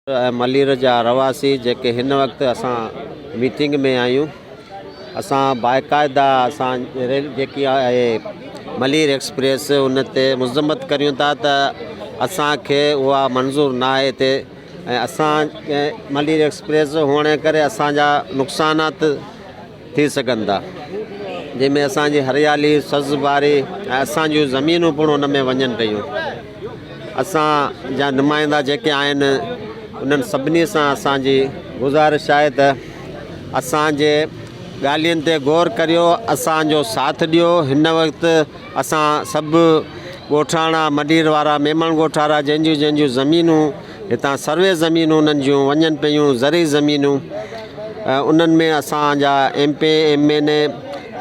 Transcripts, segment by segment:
ملير جا رهواسي جيڪي هن وقت اسان ميٽنگ ۾ آهيون اسان باقاعده اسان ريل جيڪي آهي ملير ايڪسپريس ان تي مذمت ڪريون ٿا ته اسانکي اها منظور نه آهي تي ۽ اسان ملير ايڪسپريس هئڻ ڪري اسانجا نقصانات ٿي سگهن ٿا، جنهن ۾ اسان جي هريالي، سز باري ۽ اسان جون زمينون پڻ ان ۾ وڃن پيون. اسان جا نمائندا جيڪي آهن، انهن سڀني سان اسان جي. گذارش آهي ته اسان جي ڳالهين تي غور ڪريو، اسان جو ساٿ ڏيو. هن وقت اسان سڀ ڳوٺاڻا، مڏير وارا، ميمڻ ڳوٺارا جنهن جون جنهن جون زمينون. هتان سروي زمينون انهن جون وڃن پيون زرعي زمينون انهن ۾ اسان جا M P M N A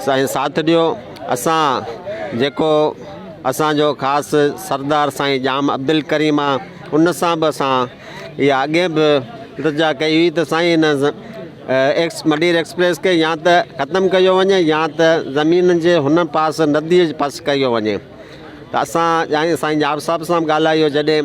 سائين ساٿ ڏيو اسان جيڪو اسانجو خاص سردار سائين ڄام عبدالڪريم آ ان سان به اسان اها اڳي به التجا ڪئي هئي ته سائين ان ايڪس مڊير ايڪسپريس کي يا ته ختم ڪيو وڃي يا ته زمين جي هن پاس نديء جي پاس ڪيو وڃي ته اسان ڄائي سائين ڄام صاحب سان به ڳالهايو جڏهن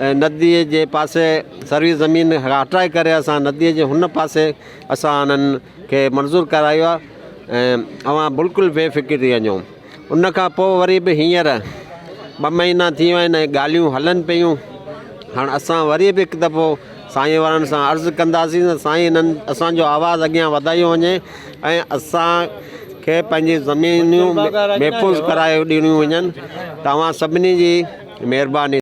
۽ نديء جي پاسي سروي زمين هٽائي ڪري اسان نديء جي هن پاسي اسان انهن کي منظور ڪرايو آهي ۽ اوهان بلڪل بي فڪر ٿي وڃو ان کان پوء وري به هينئر ٻه مهينا ٿي ويا آهن ۽ ڳالهيون هلن پيون هاڻ اسان وري به هڪ دفعو سائين وارن سان عرض ڪنداسين ته سائين انهن اسانجو آواز اڳيان وڌايو وڃي ۽ اسان کي پنهنجي زمينون محفوظ ڪرايو ڏنيون وڃن توهان سڀني جي مهرباني